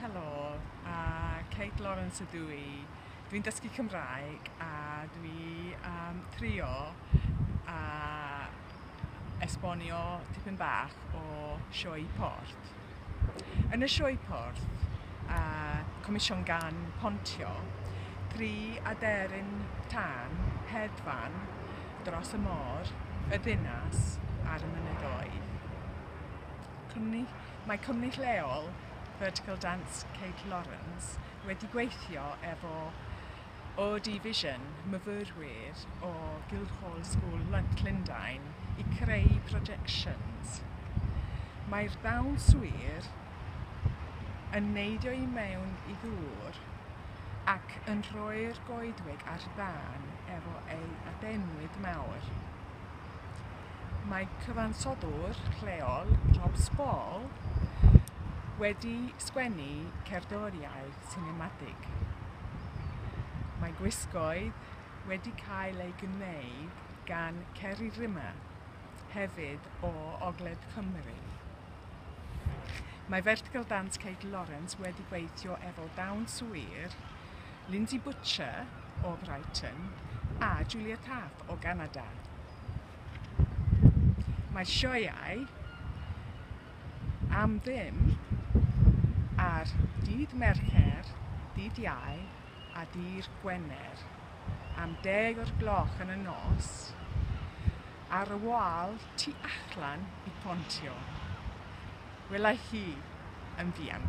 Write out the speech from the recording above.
Helo, a Kate Lawrence ydw i. Dwi'n dysgu Cymraeg a dwi am trio a esbonio tipyn bach o sioe port. Yn y sioe port, a comision gan Pontio, tri aderyn tân, hedfan, dros y môr, y ddinas a'r mynyddoedd. Cwmni, mae cwmni lleol Vertical Dance Kate Lawrence wedi gweithio efo OD Vision, myfyrwyr o Guildhall School Llundain, i creu projections. Mae'r dawnswyr yn neidio i mewn i ddŵr ac yn rhoi'r goedwig ar dân efo ei adenwyd mawr. Mae cyfansoddwr lleol, Rob Spall, wedi sgwennu cerddoriaeth sinematig. Mae gwisgoedd wedi cael eu gwneud gan Ceri Rimmer, hefyd o Ogledd Cymru. Mae Vertical Dance Kate Lawrence wedi gweithio efo dawnswyr Lindsay Butcher o Brighton a Julia Taft. Siop o Ganada. Mae sioeau am ddim ar dydd Mercher, dydd Iau a dydd Gwener am deg o'r gloch yn y nos ar y wal tu allan i Pontio. Wela hi yn fuan.